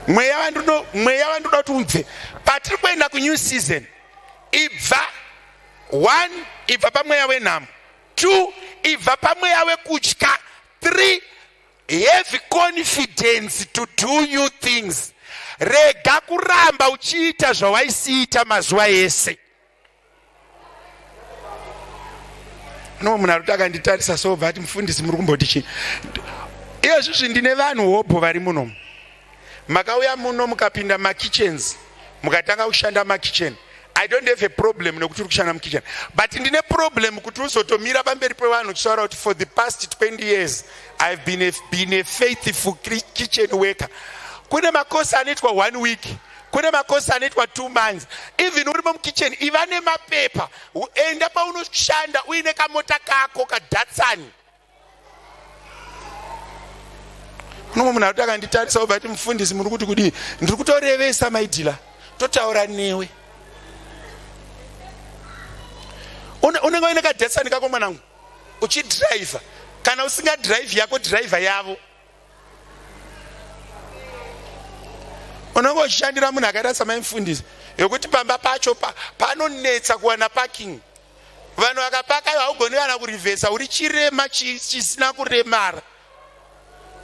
mweya wandinoda mweya wandinoda kuti ubve patiri kuenda kunew season ibva one ibva pamweya wenhamo two ibva pamweya wekutya three have confidence to do new things rega kuramba uchiita zvawaisiita mazuva ese no munhu arikuti akanditarisa so bva ati mufundisi muri kumboti chii iye zvizvi ndine vanhu hobho vari muno makauya muno mukapinda makitchens mukatanga kushanda makitchen i don't have a problem nekuti uri kushanda mukitchen but ndine problem kuti uzotomira pamberi pevanhu uchitaura kuti for the past 20 years ihave been a, been a faithful kitchen worker kune makosi anoitwa one week kune makosi anoitwa two months even urimo mukitchen iva nemapepa enda paunoshanda uine kamota kako kadatsani unomwe munhu akuti akanditarisa obva ti mufundisi muri kuti kudii ndiri kutorevesa maidhila totaura newe unenge uine kadatsani kako mwanangu uchidhiraivha kana usingadhiraivhi yako dhiraivha yavo unenge uchishandira munhu akaita samaimfundisi yokuti pamba pacho pa, panonetsa kuwana parking vanhu vakapaka ivo haugoni kana kurivhesa uri chirema chisina kuremara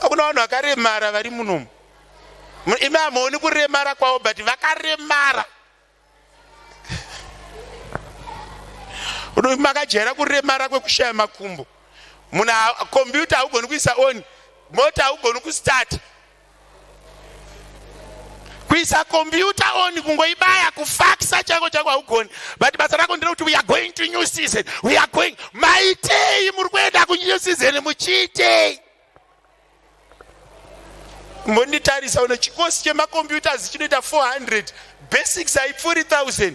hakuna vanhu vakaremara vari munomu imi hamuoni kuremara kwavo but vakaremara makajaira kuremara kwekushaya makumbo munhu kompyuta haugoni kuisa on mota haugoni kustart kuisa kompyuta on kungoibaya kufakisa chango changu haugoni but basa rako ndere kuti we are going to new season we are going maitei muri kuenda kunew season muchiitei mbonditarisa uno chikosi chemacomputers chinoita 400 basics haipfuuri 1000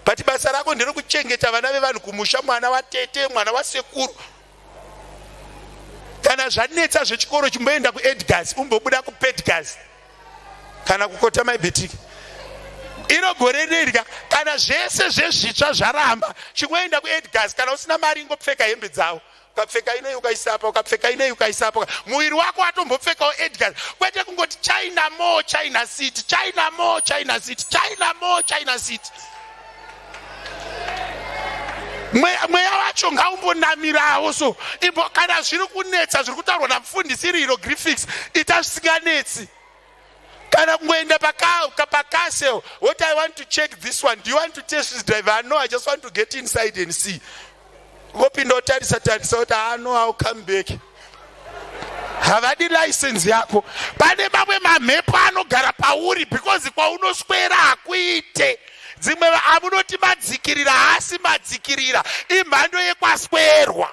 but basa rako nderokuchengeta vana vevanhu kumusha mwana watete mwana wasekuru kana zvanetsa zvechikoro chimboenda kuedgas umbobuda kupedgas kana kukota maibetiki iro gore rirya kana zvese zvezvitsva zvaramba chimboenda kuedgas kana usina mari ingopfeka hembe dzavo ukapfeka inei ukaisa apa ukapfeka inei ukaisa apa muviri wako watombopfekawo edgar kwete kungoti china mo china city china mo china city china mo china city mweya wacho ngaumbonamirawo so imbo kana zviri kunetsa zviri kutaurwa namufundisi iri hierogrifics ita zvisinganetsi kana kungoenda pakauka pacastle what i want to check this one do you want to test this driver ah, no i just want to get inside and see vopinda otarisa tarisa kuti ah, no ill come back havadi license yako pane mamwe mamhepo anogara pauri because kwaunoswera hakuite dzimwe amunoti madzikirira haasi madzikirira imhando yekwaswerwa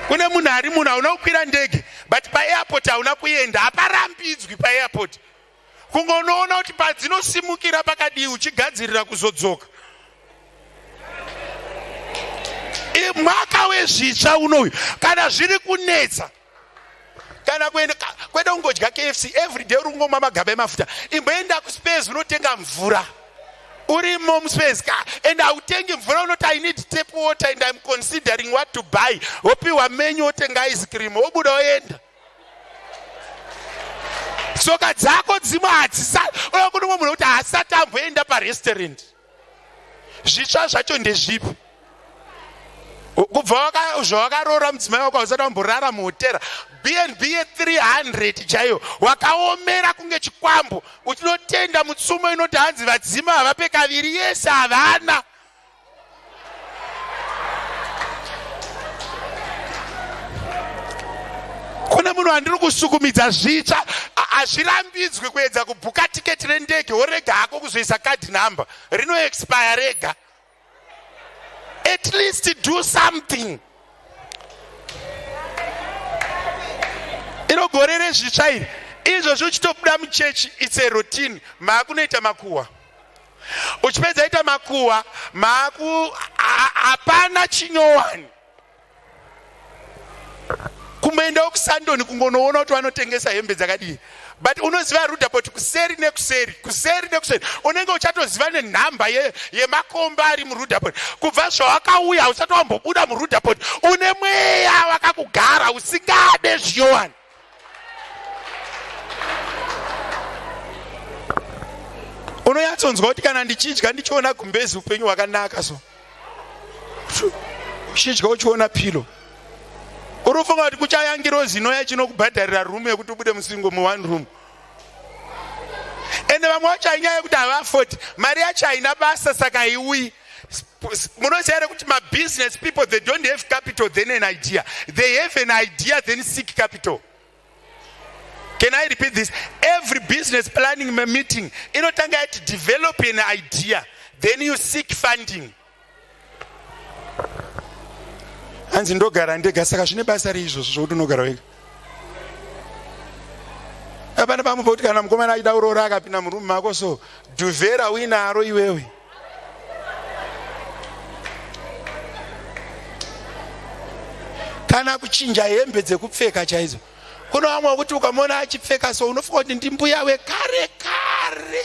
kune munhu ari munhu hauna kukwira ndege but paairport hauna kuenda haparambidzwi paairport kunge unoona kuti padzinosumukira pakadii uchigadzirira kuzodzoka mwaka wezvitsva unoyu kana zviri kunetsa kana kuenda kwete kungodya kfc every day uri kungomwa magaba emafuta imboenda kuspes unotenga mvura urimo muspes ka and hautenge mvura unoti i need tap water and im considering what to buy wopiwa menyu wotenga ice cream wobuda woenda tsoka dzako dzimwe hadzisa unokuti umwe munhu kuti haasati amboenda parestaurant zvitsva zvacho ndezvipi kubva zvawakaroora mudzimai wako hausati wamborara muhotera bnb ye300 chaiyo wakaomera kunge chikwambo uchinotenda mutsumo inoti hanzi vadzima havape kaviri yese havana kune munhu wandiri kusukumidza zvitsva hazvirambidzwi kuedza kubhuka tiketi rendege worega hako kuzoisa card number rinoexpire rega at least do something iro gore rezvitsva iri izvozvi uchitobuda muchechi its a routine maakunoita makuhwa uchipedza ita makuwa maku hapana chinyowani kumboendawo kusandoni kungonoona kuti vanotengesa hembe dzakadii but unoziva rudapot kuseri nekuseri kuseri nekuseri unenge uchatoziva nenhamba yemakomba ye ari murudapot kubva zvawakauya usati wambobuda murudapot une mweya wakakugara usingade zviyowani unonyatsonzwa kuti kana ndichidya ndichiona gumbezi upenyu hwakanaka so uchidya uchiona pilo uri kufunga kuti kuchaya ngirozi inoya chinokubhadharira room yekuti ubude musingo mu one room ende vamwe vacho hainyaya yekuti havafoti mari yacho haina basa saka haiuyi munoziva here kuti mabusiness people they don't have capital then an idea they have an idea then seek capital can i repeat this every business planning meeting inotanga yati develop an idea then you seek funding hanzi ndogara ndega saka zvine basa reizvozvo zvokuti unogara wega apana pamwe pokuti kana mukomana aida uroora akapinda murume mako so duvera uinaro iwewe kana kuchinja hembe dzekupfeka chaidzo kuno vamwe kuti ukamona achipfeka so unofunga kuti ndimbuya wekare kare